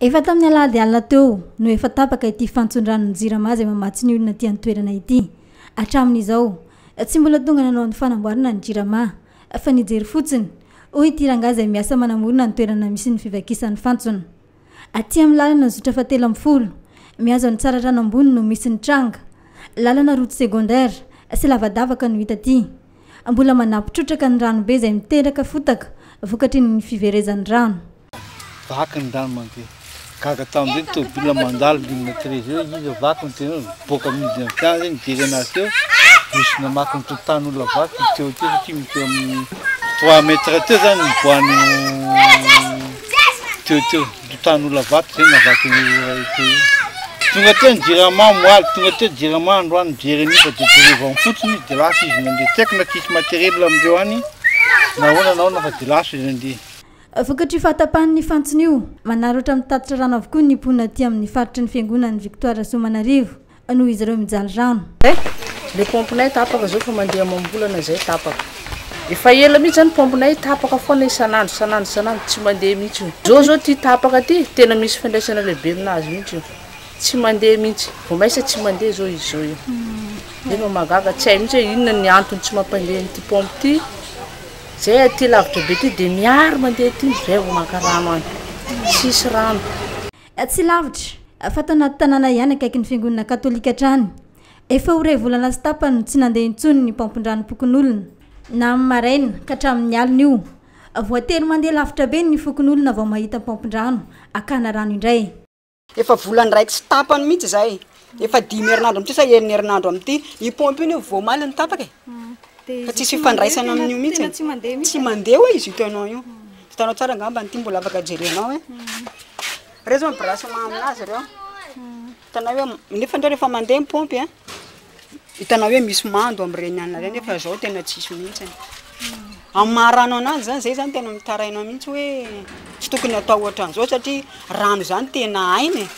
Efa tamin'ny alahady alina teo no efa tapaka ity fantson-dranon'ny Jirama izay mamatsy ny olona aty an-toerana ity. Hatramin'izao, tsy mbola tonga nanao ny fanamboarana ny Jirama, fa nijery fotsiny, hoy ity rangahy izay miasa manamorona ny toerana misy ny fivakisan'ny fantsona. Aty amin'ny lalana zotra fahatelo ambin'ny folo, mihazo an'i Tsaratrano ambony no misy ny tranga. Lalana route secondaire sy lavadavaka no hita aty. Mbola manampy trotraka ny ranobe izay miteraka fotaka vokatry ny fiverezan'ny rano. Vaky ny rano mandeha. Gaga tamin'izay ny tômôbilina mandalo ligne 13 eo, izy io vaky ny tena boaka miditra ny fiara zay nijery anazy teo. Misy namaky ny tokotany olona vaky teo teo satria misy eo amin'ny 3 mètres teo zany ny boany teo teo tokotany olona vaky zay navaky ny iray teo. Tonga teo ny jirama moaly, tonga teo jirama androany mijery an'io fa dia jerevany fotsiny izy dia lasa izy nandeha. Tsy haiko na tsisy matériel amin'ireo any nahoana nahoana fa dia lasa izy nandeha. Vokatry io fahatapahan'ny fantsona io, manaratra mitatitra rano avokoa ny mponina aty amin'ny faritry ny fiangonan'i Victoire Soamanarivo noho izy ireo mijaly rano. Zay le pompe nay tapaka zao efa mandeha amam-bolana zay tapaka efa ela mihitsy zany pompe nay tapaka foana isan'andro isan'andro isan'andro tsy mandeha mihitsy io zao zao ty tapaka ty tena misy fiandraisana lehibe aminazy mihitsy io tsy mandeha mihitsy vao maisa tsy mandeha zao izy zao io nefa mahagaga tsy hay mihitsy hoe inona ny antony tsy mampandeha an'ity pompe ty Zay aty lavitra be ty de miary mandeha aty izy zay vao maka rano any. Tsisy rano. Tsy lavitra, fa tao anaty tanàna ihany akaikin'ny fiangonana katolika hatrany. Efa ho iray volana sy tapany no tsy nandeha intsony ny paompin-dranom-pokonolona. Na amin'ny maraina ka hatramin'ny alina io. Voatery mandeha lavitra be ny fokonolona vao mahita paompin-drano hakana rano indray. Efa volana iray tsy tapany mihitsy izay, efa dimy herinandro amin'ity sa enina herinandro amin'ity, io pompe io vao omaly no tapaka e, fa tsisy fifandraisana amin'io mihitsy e, tsy mandeha hoe izy hitanao io, hitanao tsara angamba ity mbola afaka jerenao hoe, ireo izao mi-branche-ma amin'azy ireo, hitanao hoe, nefa indray rehefa mandeha ny pompe an. Hitanao hoe misy mando amin'ireny anona ireny fa izao tena tsisy mihitsy. Amin'ny maha rano ananjy izany, izay izany tena mitaraina mihitsy hoe tsy tokony hatao ohatran'izao satria rano izany tena aina e.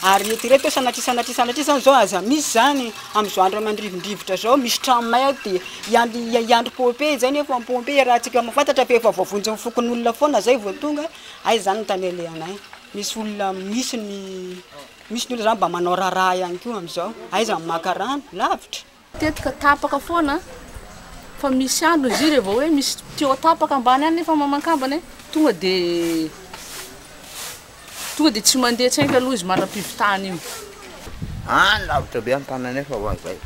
Ary eto ireto sanatria sanatria sanatria izany izao aza misy izany, amin'izao andro aman-drivo-drivotra izao misy trano may ato dia hiandry hiandry pompier izay nefa ny pompier iarahantsika mahafantatra fa efa voavonjin'ny fokonolona foana izay vao tonga, hay izany no tanelehanay. Misy olona misy ny Misy ny olona zany mba manao raharaha ihany koa amin'izao, aiza ny maka rano, lavitra. Tetika tapaka foana an! Fa misy andro izy io revô hoe misy tuyau tapaka ambany any nefa mamankambana e! Tonga de tonga de tsy mandeha tsaingy aloha izy mandram-pivitahana iny. Any lavitra be any tany nefa ho any zay.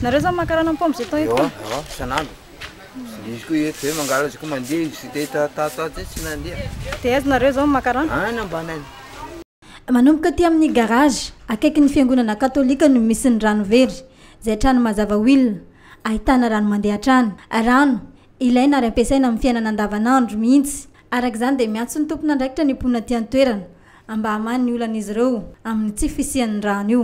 Nareo zany maka rano am-paompy ze temps eto an? Ewa ewa isan'andro. Manomboka aty amin'ny garage, akaikin'ny fiangonana katolika no misy ny rano very, izay trano mazava will ahitana rano mandeha hatrany. Rano ilaina ary ampiasaina amin'ny fiainana andavanandro mihitsy. Araka izany dia miantso ny tompon'andraikitra ny mponina aty an-toerana mba hamaha ny olan'izy ireo amin'ny tsy fisian'ny rano io.